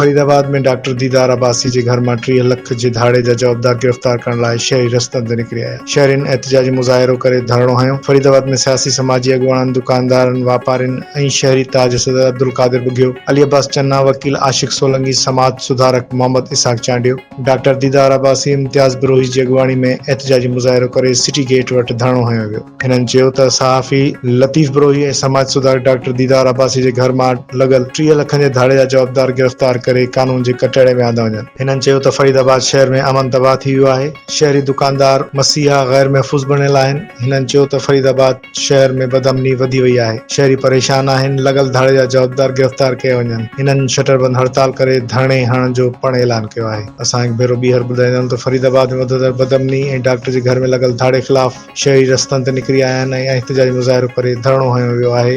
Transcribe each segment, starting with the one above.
Faridabad ۾ doctor Didar Abbasi جي گهر مان ٽيهه لک جي ڌاڙي جا جوابدار گرفتار ڪرڻ لاء شهري رستن تي نڪري آيا، شهرين احتجاجي مظاهرو ڪري ڌرڻو هنيو، فريد آباد ۾ سياسي سماجي اڳواڻن، دڪاندارن، واپارين ۽ شهري تاج صدر عبدالقادر ٻگهيو، علي عباس چنا، وڪيل عاشق سولنگي، سماج سڌارڪ محمد اسحاق چانڊيو. ڊاڪٽر ديدار عباسي امتياز بروهي جي اڳواڻي ۾ احتجاجي مظاهرو ڪري سٽي گيٽ وٽ ڌرڻو هنيو ويو. هنن چيو ته صحافي لطيف بروهي ۽ سماج سڌارڪ ڊاڪٽر ديدار عباسي جي گهر مان لڳل ٽيهه لکن جي ڌاڙي جا جوابدار گرفتار ڪري قانون جي ڪٽهڙي ۾ آندا وڃن. هنن چيو ته فريد آباد شهر ۾ امن تباهه ٿي ويو آهي، شهري دڪاندار مسيحا غير محفوظ بڻيل آهن. هنن چيو ته فريد آباد. شهر ۾ بدامني وڌي وئي آهي، شهري پريشان آهن، لڳل ڌاڙي جا جوابدار گرفتار ڪيا وڃن، هنن شٽر بند هڙتال ڪري ڌرڻي هڻڻ جو پڻ اعلان ڪيو آهي، اسان هڪ ڀيرو ٻيهر ٻڌائيندايون ته فريد آباد ۾ وڌندڙ بدامني ۽ ڊاڪٽر جي گهر ۾ لڳل ڌاڙي خلاف شهري رستن تي نڪري آيا آهن ۽ احتجاجي مظاهرو ڪري ڌرڻو هنيو ويو آهي،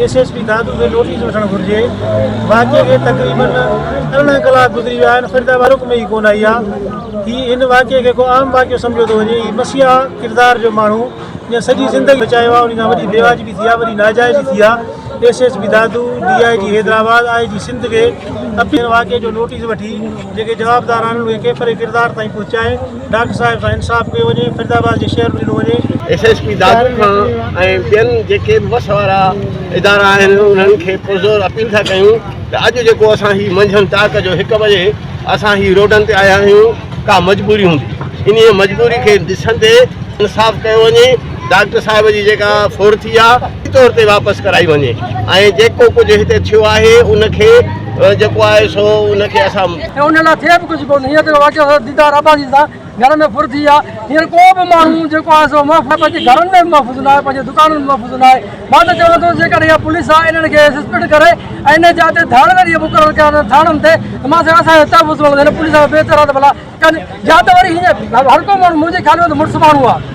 ايس ايس پي دادو کي نوٽيس وٺڻ گهرجي واقعي کي تقريبن ارڙهن ڪلاڪ گذري ويا آهن فريد آباد رڪ ۾ ئي ڪونه آئي آهي هي هن واقعي کي ڪو عام واقعو سمجهيو ٿو وڃي هي مسيحا ڪردار جو ماڻهو جنهن سڄي زندگي بچايو آهي انهي کان وڏي بيواجبي ٿي آهي وڏي ناجائزي ٿي آهي S S P Dadu D I G Hyderabad I G Sindh کي اپيل ڪري واقعي جو نوٽيس وٺي جيڪي جوابدار آهن اهي ڪيفر ڪردار تائين پهچائي ڊاڪٽر صاحب سان انصاف ڪيو وڃي فريدآباد جي شهر به ڏنو وڃي. ايس ايس پي دادو کان ۽ ٻين جيڪي به وس وارا ادارا آهن انهن کي پرزور اپيل ٿا ڪيون ته اڄ جيڪو اسان هي منجهند ٽاڪ جو هڪ بجي اسان هي روڊن تي آيا آهيون ڪا مجبوري هوندي انهيء مجبوري کي ڏسندي انصاف ڪيو وڃي ڊاڪٽر صاحب جي جيڪا ڦر ٿي آ فوري طور تي واپس ڪرائي وڃي ۽ جيڪو ڪجهه هتي ٿيو آهي ان کي جيڪو آهي سو ان کي اسان ان لاء ٿئي به ڪجهه ڪونه هينئر جيڪو واقعو ٿيو ديدار عباسي سان گهر ۾ ڦر ٿي آ هينئر ڪو به ماڻهو جيڪو آهي سو محفوظ پنهنجي گهرن ۾ به محفوظ ناهي پنهنجي دڪانن ۾ محفوظ ناهي. مان ته چوان ٿو جيڪڏهن اها پوليس آهي انهن کي سسپينڊ ڪري ۽ ان جاء تي ڌاڙيل اهي مقرر ڪيا ٿاڻن تي ته مان سان اسان جو تحفظ مطلب هن پوليس سان بي اعتراض ڀلا ڪن يا ته وري هيئن هر ڪو ماڻهو منهنجي خيال ۾ ته مڙس ماڻهو آهي